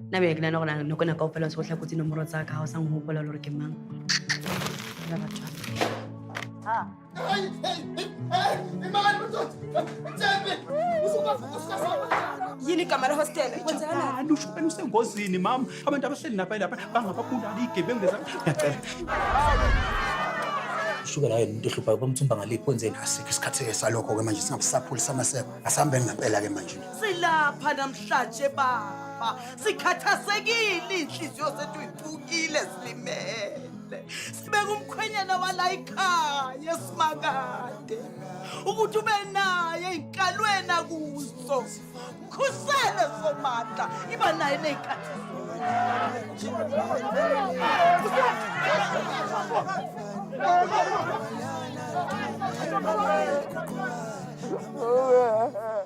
nna beke nana gore nako nako o fela sotlha kotsi nomoro tsa ka ga o sa ngogopola le gore ke mang Fela batho ba- yini igama lehostela kwenzakalani ushukani usengozini mama abantu abahleli lapha lapha bangababulali igebengu leza ngiyacela usuke layo into ehluphayo bamthumba ngaliphi kwenzeni asikho isikhathi-ke salokho-ke manje singabusaphuli samaseko asihambeni ngempela-ke manje Silapha namhlanje baba, sikhathazekile inhliziyo zethu iphukile silimele. Sibeka umkhwenyana wala ikhaya simakade ukuthi ube naye inkalweni akuso. Khusele somandla iba naye nezikhathi Oh,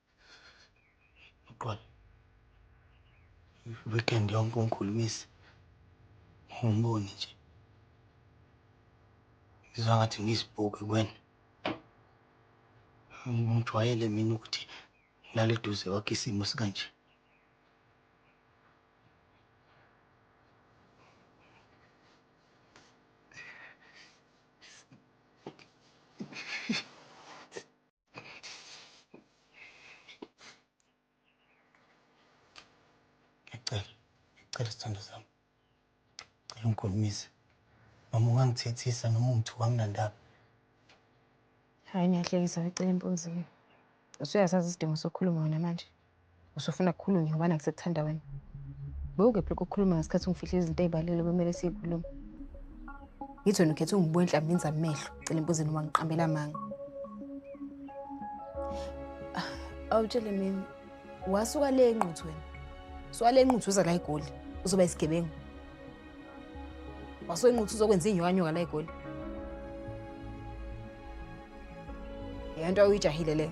Uxolo. I-weekend yonke ungikhulumisa. Angiboni nje. Ngizwa ngathi ngiyisipoki kuwena. Angijwayele mina ukuthi ngilale eduze kwakho isimo esikanje. Ngiyacela, ngiyacela sthandwa sami. Ngicela ungikhulumise. Noma ungangithethisa noma ungithuke anginandaba. Hhayi niyahlekisa wecela empunzini. Usuyasazi isidingo sokukhuluma wena manje? Usufuna kukhulunywe ngobani angisekuthanda wena. Bewukephi lokho kukhuluma ngesikhathi ungifihle izinto ey'balele bekumele siyikhulume. Ngithi wena ukhethe ungibuka enhlambini zamehlo, cela embuzini uma ngiqambela amanga. Awutshele mina, wasuka le enquthu wena. Suka le enquthu uza la eGoli, uzoba isigebengu. Wasuka enquthu uzokwenza inyokanyoka la eGoli. Yonto oyijahile leyo.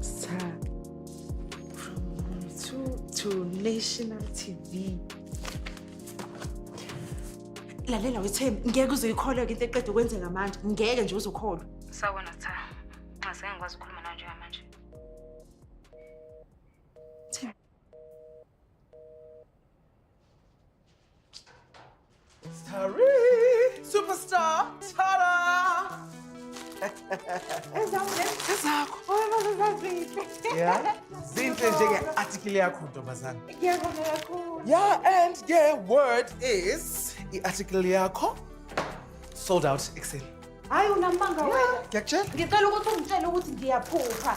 Sir, from Mom to, to National TV. lalela wethembi ngeke uzoyikholwa-ke into eqeda ukwenzeka manje ngeke nje uzokholwa Sawubona Sitha. Nxase ngikwazi ukukhuluma nawe njengamanje. Starry, superstar, tada! Ezakho. Yeah. Zinhle njenge-article yakho ntombazane. Ngiyabonga kakhulu. Yeah, and yeah, word is i-article yakho sold out ekuseni. Hayi unamanga wena. Ngiyakutshela. Ngicela ukuthi ungitshele ukuthi ngiyaphupha.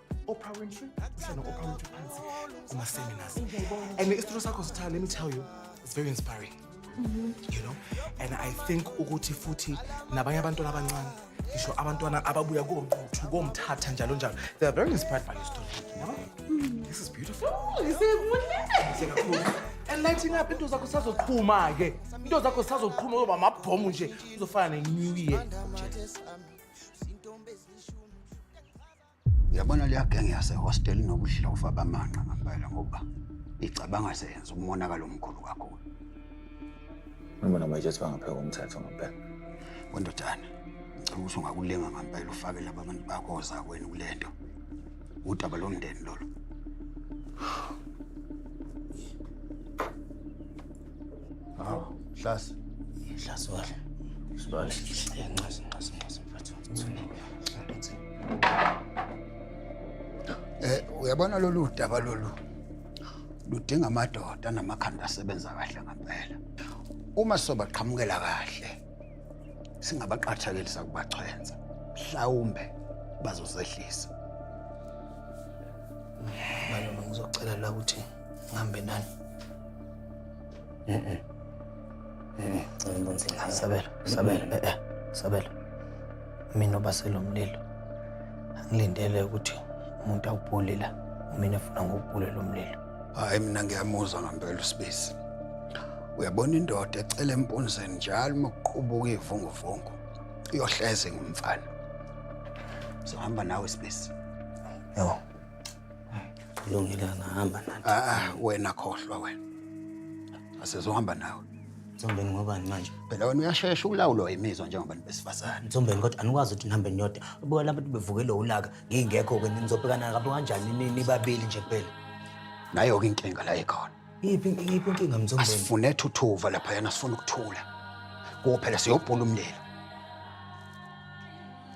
Oprah Winfrey usana Oprah Winfrey phansi kuma seminars and isitori sakho sitha let me tell you it's very inspiring you know and i think ukuthi futhi nabanye abantwana abancane ngisho abantwana ababuya koquthu komthatha njalo njalo they are very inspired by your story yabo this is beautiful and lighting up into zakho sazoqhuma ke into zakho sazoqhuma uzoba amabhomu nje uzofana ne-new year Yabona leya gang yase hostel nobudlova bamanqa ngempela ngoba icabanga seyenza umonakalo omkhulu kakhulu. Ngibona manje siba ngapheka umthetho ngempela. Wendodana, ngicela ukuthi ungakulinga ngempela ufake laba bantu bakho ozakwenu kulento. Udaba lomndeni lolo. Hawu, Hlasi. Hlasi wala. Sibale. Nxasi, nxasi, nxasi mfethu. Eh, uyabona lolu daba lolu ludinga amadoda namakhanda asebenza kahle ngempela. Uma sobaqhamukela kahle singabaqathakelisa kubachwenza. Mhlawumbe bazozehlisa. Malume ngizocela la ukuthi ngihambe nani. Sabelo, Sabelo, eh eh, Sabelo. Mina obaselo mlilo. Angilindele ukuthi umuntu awubhule la. Mina efuna ngokubhule lo mlilo. Hayi mina ngiyamuzwa ngempela usibisi. Uyabona indoda ecela empunzeni njalo uma kuqubuka ivunguvungu. Iyohleze ngumfana. Sohamba nawe sibisi. Yebo. Kulungile ngahamba nathi. Ah, ah, wena khohlwa wena. Asizohamba nawe. Mthombeni ngobani manje? Phela wena uyashesha ukulawulwa imizwa njengobantu besifazane. Mthombeni kodwa anikwazi ukuthi nihambe niyodwa. Ubuka labantu bevukelwe ulaka ngingekho ke nizobhekana kabi kanjani ni- nibabili nje kuphela. Nayo-ke inkinga la ikhona. Iphi iphi inkinga Mthombeni? Asifune thuthuva lapha yana sifuna ukuthula. Kuphela siyobhula umlilo.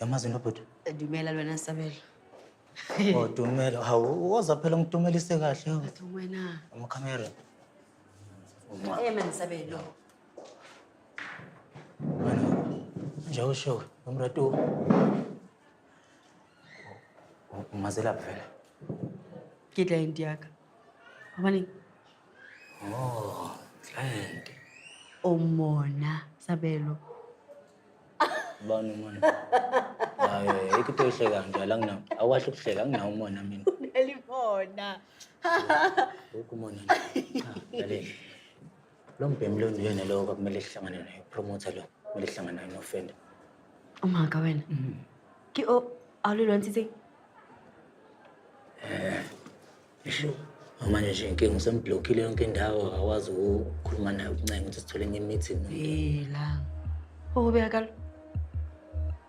Yamazi into bhuti? Dumela lwena Sabelo. Oh, Dumela. Hawu, woza phela ngidumelise kahle. hawu. Athi wena. Amakhamera. Eh man Sabelo. Nje usho umratu. Umazelaphi vele? Ke client ya ka. Abani? Oh, client. Umona Sabelo. Bani umona? Hayi, yikho into ehleka kanjalo anginawo. Awukahle ukuhleka anginawo umona mina. Elimona. Lokhu umona. Cha, lalela. Lo mbhemu lo nguyena lowo kwakumele sihlangane naye upromoter lo kumele sihlangane naye nofenda Umaka wena. Ke o a lo lwantshitseng? isho manje nje inkinga usemblockile yonke indawo akakwazi ukukhuluma naye ukuncenga ukuthi sithole enye imeeting Helang. Ho ho beha kalo.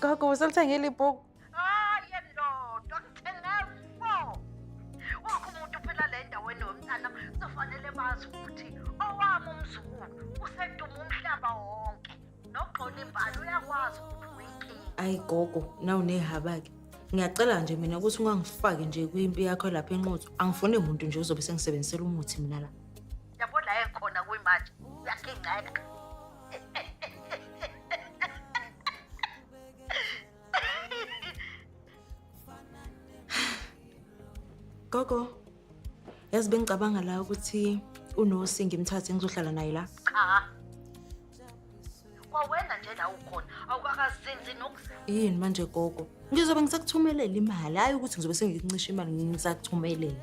Gogo usolithengile ibhuku. Hayi lodwa ngithenge four. Wakho umuntu phela le ndaweni womntana kuzofanele bazi ukuthi owami umzukulu useduma umhlaba wonke. Nogxola imbali uyakwazi ukuthi uyinkinga. Ayi gogo, nawu nehaba-ke. Ngiyacela nje mina ukuthi ungangifaki nje kwimpi yakho lapha enqotho. Angifuni muntu nje ozobe sengisebenzisela umuthi mina la. Yabo la ekhona kuyimanje uyakingceka. Gogo, yazi bengicabanga la ukuthi uNosi ngimthathe ngizohlala naye la. Cha. Kwawena nje la ukhona, awukakazinzi nokuzi. Yini manje gogo? Ngizobe ngisakuthumelela imali, hayi ukuthi ngizobe sengikuncisha imali ngisakuthumelela.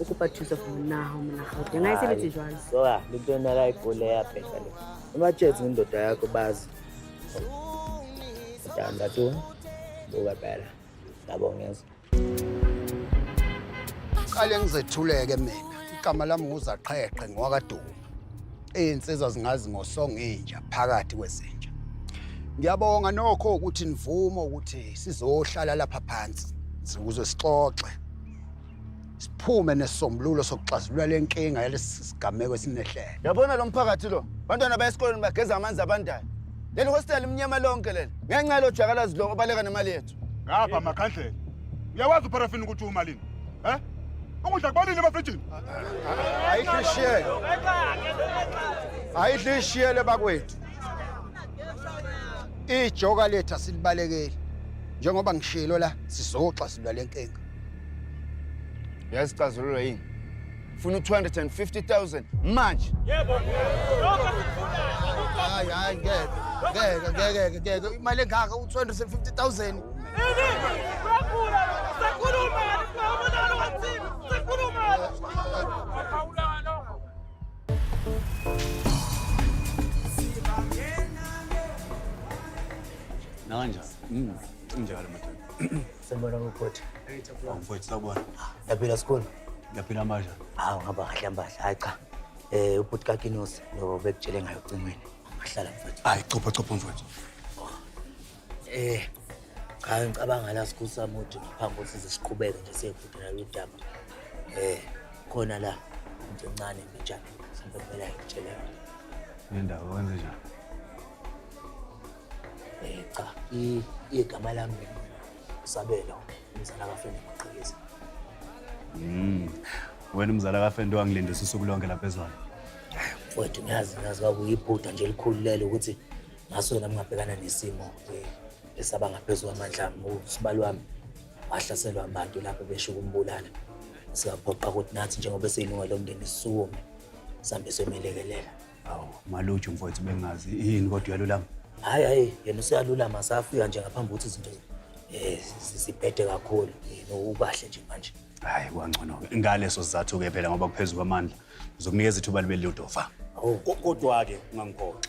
o kopa thuso for monago monagate nga e sebetse jwalo soa le tona ka e kole ya peta le o ba tšetse ndoda ya ko bazi tanda to bo ba bela ka bongeza qale ngizethuleke mina igama lami nguzaqheqhe ngwakaduma izinsizwa zingazi ngosongo inja phakathi kwezinja ngiyabonga nokho ukuthi nivume ukuthi sizohlala lapha phansi ukuze sixoxe siphume nesisombululo sokuxazulula le nkinga yalesi sigameko esinehlele yabona lo mphakathi lo bantwana baya esikoleni bageza amanzi abandayo leli hostel imnyama lonke leli ngenxa yalo jakalazi lo obaleka nemali yethu ngapha makhandlela uyawazi uparafini ukuthi umalini um eh? ukudla kubalile emafrijini ayihlishiyele ayihlishiyele bakwethu ijoka lethu asilibalekeli njengoba ngishilo la sizoxazulula le nkinga yazi icazululwa yini funa u-250000 manje yebo lokho sikufunayo hayi hayi ngeke ngeke ngeke ngeke imali engaka u-250000 Nanja. Mm. Njalo madoda. Sembona ngiphothi. Ngiphothi sawubona. Yaphila sikhona. Yaphila amandla. Hawu ngihamba kahle ambadla. Hayi cha. Eh ubhuti kaKinos lo bekutshele ngayo ocingweni. Ahlala mfowethu. Hayi chopha chopha mfowethu. Eh cha ngicabanga la sikhusa muthi ngaphambi kokuthi siziqhubeke nje siyekudela udaba. Eh khona la into encane mbijana. Sembona ngitshela. Nendawo wenze njani? Eh cha, i- igama lami Sabelo, umzala kaFende Maqhikiza. Mm. Wena umzala kaFende wangilindisa usuku lonke lapha ezwana. Mfowethu ngiyazi ngazi kwakuyiphutha nje elikhulu lelo ukuthi ngaso nami ngabhekana nesimo eh, esaba ngaphezu kwamandla ami usibali wami wahlaselwa abantu lapho besho ukumbulala sikaphoqa ukuthi nathi njengoba siyilunga lomndeni sisukume sambe semelekelela Awu, maluju mfowethu bengazi yini kodwa uyalulama. Hayi hayi yena useyalulama safika nje ngaphambi ukuthi izinto eh sisibhede kakhulu yena ukahle nje manje. Hayi kwangcono ke. Ngaleso sizathu ke phela ngoba kuphezulu kwamandla. Uzokunikeza ithuba libe lilodofa. Awu Ko- Kodwa ke ungangiphoxi.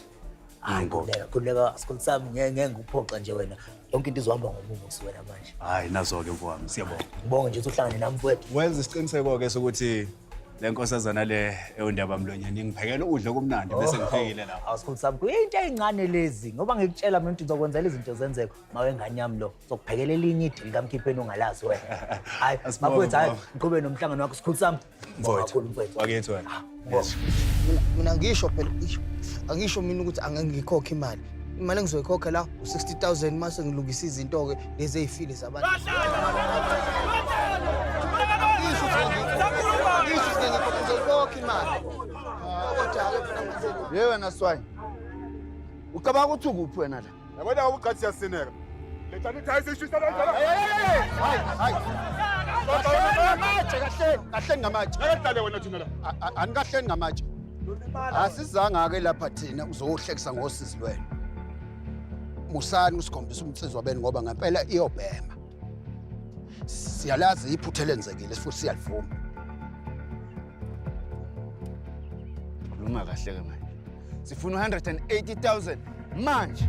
hayi Ngikho. khuleka khuleka asikho sami ngeke ngeke ngikuphoxa nje wena. Yonke into izohamba ngomuso wena manje. Hayi nazo ke mfowami siyabonga. Ngibonge nje ukuthi uhlangane nami mfowethu. Wenza isiqiniseko ke sokuthi le nkosazana le ewundaba mlonyeni ingiphekela ukudla okumnandi bese ngiphekile lapho awusikhulu sami kuyinto eyincane lezi ngoba ngikutshela mina ukuthi ngizokwenzela izinto zenzeka uma wengane yami lo ngizokuphekela elinye idili kamkhipheni ongalazi wena hayi Asibonge, bakwethu hayi mama. ngiqhube nomhlangano wakho sikhulu sami Mfowethu. Kakhulu, mfowethu. wakithi wena Mina- mina ngisho phela isho angisho mina ukuthi angeke ngikhokhe imali imali engizoyikhokha la u-60000 uma sengilungisa izinto-ke lezi ey'file zabantu ye wena swayi ucabanga ukuthi ukuphi wena la yabona ubugcathi siyasineka kahleni ngamatshe andikahleni ngamatshe asizanga-ke lapha thina uzohlekisa ngosizi lwenu musani usikhombisa umnsizwa benu ngoba ngempela iyobhema siyalazi iphutha elenzekile futhi siyalivuma khuluma kahle-ke manje sifuna u-180 000 manje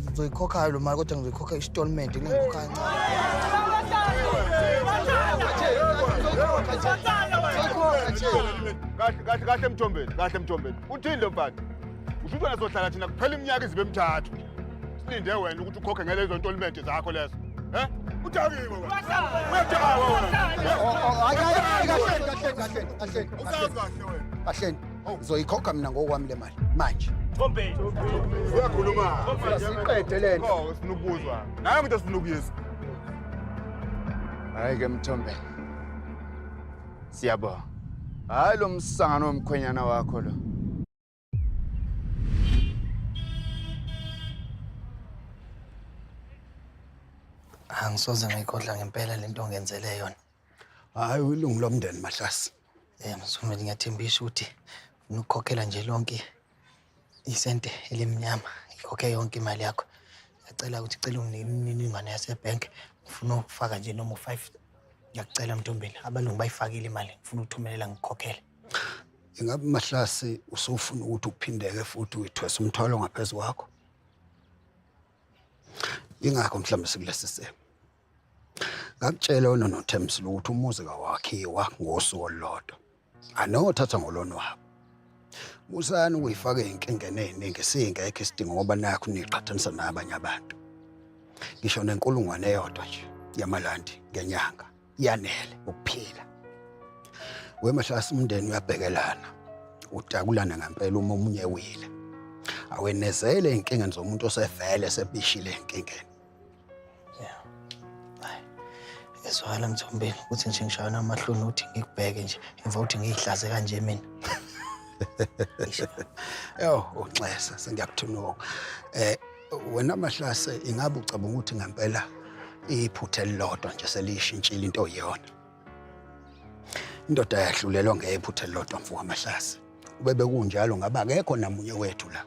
ngizoyikhokhayo lo mali kodwa ngizoyikhokha istolment ngiyikhokha kahle kahle emthombeni kahle emthombeni uthini lo mfana usho ukuthi wena sohlala thina kuphela iminyaka izibe emithathu silinde wena ukuthi ukhokhe ngelezo ntolimente zakho lezo Eh? Udakiwe wena. Udakiwe wena. Hayi hayi kahle kahle kahle. Usazi kahle. kahleni ngizoyikhokha mina ngokwami le mali manje uyakhuluma siqede le nto sifuna ukubuzwa nayo ngento sifuna ukuyizwa hayi ke mthombeni siyabonga hayi lo msangano womkhwenyana wakho lo angisoze ngayikhohlwa ngempela le nto ongenzele yona hhayi uyilungu lomndeni mahlasi um msumeli ngiyathembisa ukuthi funa ukukhokhela nje lonke isente elimnyama ngikhokhe yonke imali yakho ngiyacela ukuthi cela umniningwane yasebhenki ngifuna ukufaka nje noma u-five ngiyakucela mntombeni abalungu bayifakile imali ngifuna ukuthumelela ngikhokhele Ingabe Mahlasi usufuna ukuthi uphindeke futhi uyithwese umthwalo ngaphezu kwakho? Ingakho mhlawumbe sikulesi simo. Ngakutshela wena noThemsile ukuthi umuzi kawakhiwa ngosuku olulodwa. Anothatha ngolona wabo. Musani ukuyifaka ezinkingeni eziningi singekho isidingo ngoba nakho niqhathanisa nabanye abantu. Ngisho nenkulungwane eyodwa nje yamalandi ngenyanga yanele ukuphila wemahlasi umndeni uyabhekelana udakulana ngempela uma omunye wile awenezele enkingeni zomuntu osevele esebishile enkingeni ezwala mthombeni ukuthi nje ngishaywa namahloni ukuthi ngikubheke nje emva ukuthi ngiyihlaze kanje mina yo unxesa sengiyakuthunuka um eh, Wena Mahlase ingabe ucabanga ukuthi ngempela iphutha elilodwa nje seliyishintshile into oyiyona. Indoda yahlulelwa ngephutha elilodwa mfo wamahlase. Ubebe kunjalo ngabe akekho namunye wethu la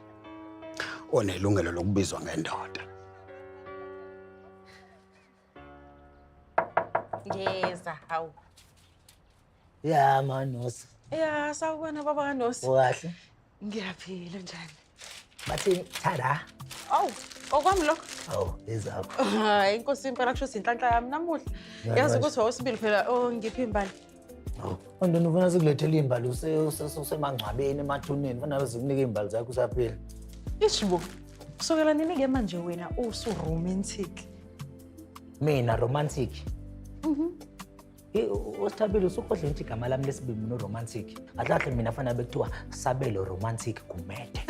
onelungelo lokubizwa ngendoda. Ngiyeza hawu. Ya manosi. Ya sawubona baba kanosi. Ukahle? Ngiyaphila njani? Bathini thada. Awu, okwami lokho. Awu, ezakho. Hayi inkosi impela kusho ukuthi inhlanhla yami namuhla. Yazi ukuthi wawusibili phela ongiphi oh, imbali. Andona ufuna sikulethele imbali usemangcwabeni emathuneni ufana zikunike imbali zakho usaphila. Ishibo. Kusukela nini ke manje wena usu romantic? Mina romantic. Mhm. Usithabile usukhohle ngithi igama lami lesibili no romantic. Kahle mina fanele bekuthiwa sabelo romantic kumede.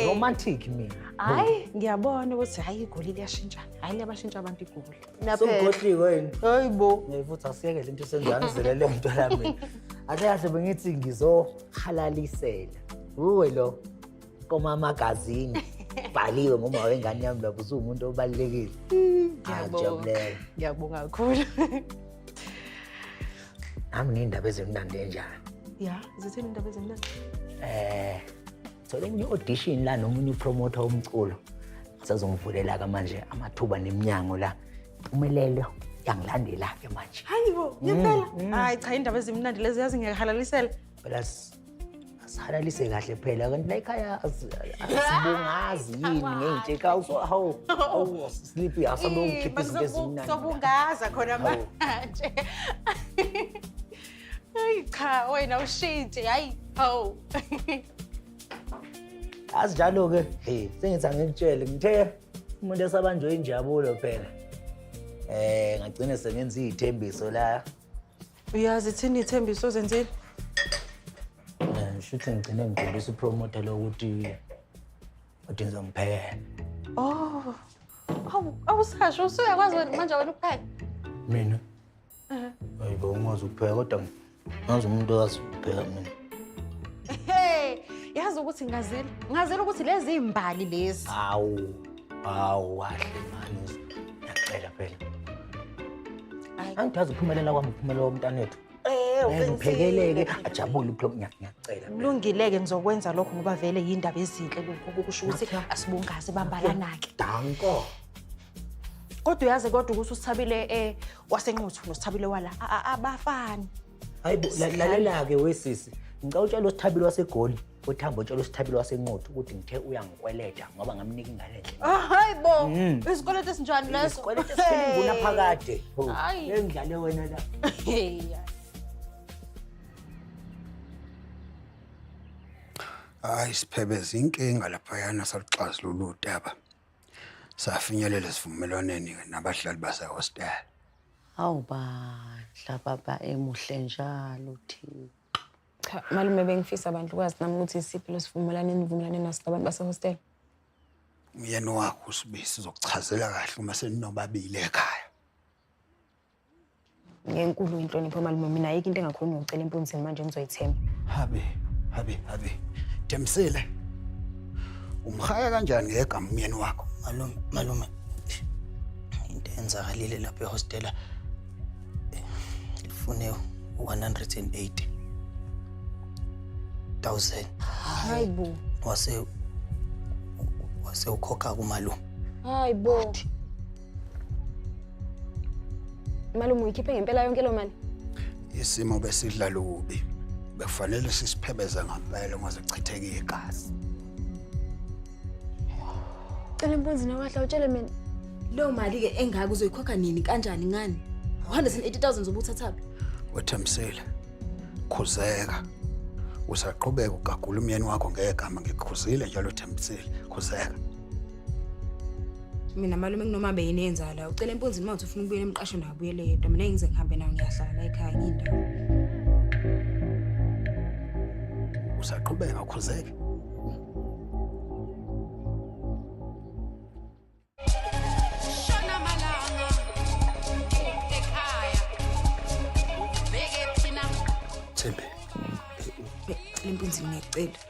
Romantic mina. Hayi ngiyabona ukuthi hayi igoli liyashintshana. Hayi liyabashintsha abantu igoli. Sokhohliwe yini? Hayi bo. Ngifuthi asiyeke lento senzani zele lento la mina. Ahle kahle bengithi ngizohalalisela. Uwe lo koma magazini. Bhaliwe ngoma wengane yami lapho usumuntu obalekile. Ngiyabonga. Ngiyabonga kakhulu. Nami nindaba ezimnandi enjani? Ya, zithini indaba ezimnandi? Eh Thola enye audition la nomunye upromoter omculo. Sazongivulela ka manje amathuba neminyango la. Impumelelo yangilandela ke manje. Hayi bo, ngempela. Mm, mm. Hayi cha indaba ezimnandi lezi yazi ngiyahalalisela. Phela sihalalise kahle phela kanti la ekhaya asibungazi yini ngeyintshe ka hawu hawu sleepy asabe ukhipha izinto ezimnandi. Sobungaza khona manje. Ay cha wena ushintshi hayi haw. Asinjalo ke. Hey, sengithi angikutshele ngithe umuntu esabanjwe injabulo phela. Eh, ngagcina sengenza izithembiso la. Uyazi thini ithembiso zenzile? Eh, ngishuthi ngigcine ngidlulisa upromoter lokuthi uthi ngizomphekela. Oh. Awu awusasho usuyakwazi wena manje wena ukupheka. Mina Ayibo ungazi ukupheka kodwa ngazi umuntu owazi ukupheka mina. Hey, yazi ukuthi ngazela. Ngazela ukuthi lezi imbali lezi. Awu. Awu wahle manje. Ngiyacela phela. Ayi. Angidazi uphumelela kwami uphumelela womntanethu. Eh, uphekeleke ajabule uphlo ngiyacela. Kulungileke ngizokwenza lokho ngoba vele yindaba ezinhle lokho kusho ukuthi asibungaze bambalanake. Danko. kodwa uyazi kodwa ukuthi usithabile eh wasenquthu nosithabile wala a- a- abafani hayi bo, la- lalela-ke wesisi ngicela utshela usithabile wasegoli uthamba utshela usithabile wasenquthu ukuthi ngithe uyangikweleta ngoba ngamnika ingane endlini Ah, hayi bo Mm. isikweletu esinjani leso isikweleta esikhulunguna phakade Hayi. engidlale wena la Hey. hayi siphebeza inkinga laphayana saluxazulula udaba Safinyelela esivumelwaneni nabahlali basehostela. Awu bandla baba emuhle njalo Thixo. Cha malume bengifisa abantu kwazi nami ukuthi isiphi lesivumelwano enivumelane naso nabantu basehostela. Umyeni wakho uSibisi uzokuchazela kahle uma seninobabili ekhaya. ngenkulu inhlonipho malume mina ayikho into engakhona ngicela impunzini manje ngizoyithemba habe habe habe Thembisile umhaya kanjani ngegama umyeni wakho malume malume into enzakalile lapha ehostela ifune 180 1000 hayi bo wase wase ukhokha kumalume hayi bo Malume uyikhiphe ngempela yonke lo mali. Isimo besidla lubi. Bekufanele sisiphebeze ngempela uma zichitheke igazi. Cela impunzi nowahla utshele mina. Leyo mali ke engaka uzoyikhokha nini kanjani ngani? 180,000 zobuthathaphi. Wethemsile. Khuzeka. Usaqhubeka ugagula umyeni wakho ngegama ngikhuzile njalo Thembisile. Khuzeka. mina malume kunoma beyini yenza la ucela empunzini uma uthi ufuna ukubuyela emqasho nayo buyele yedwa mina ngize ngihambe nayo ngiyahlala la ekhaya ngiyindawo usaqhubeka ukhuzeke Shona malanga ekhaya ubheke thina Thembe, lempunzini ngiyacela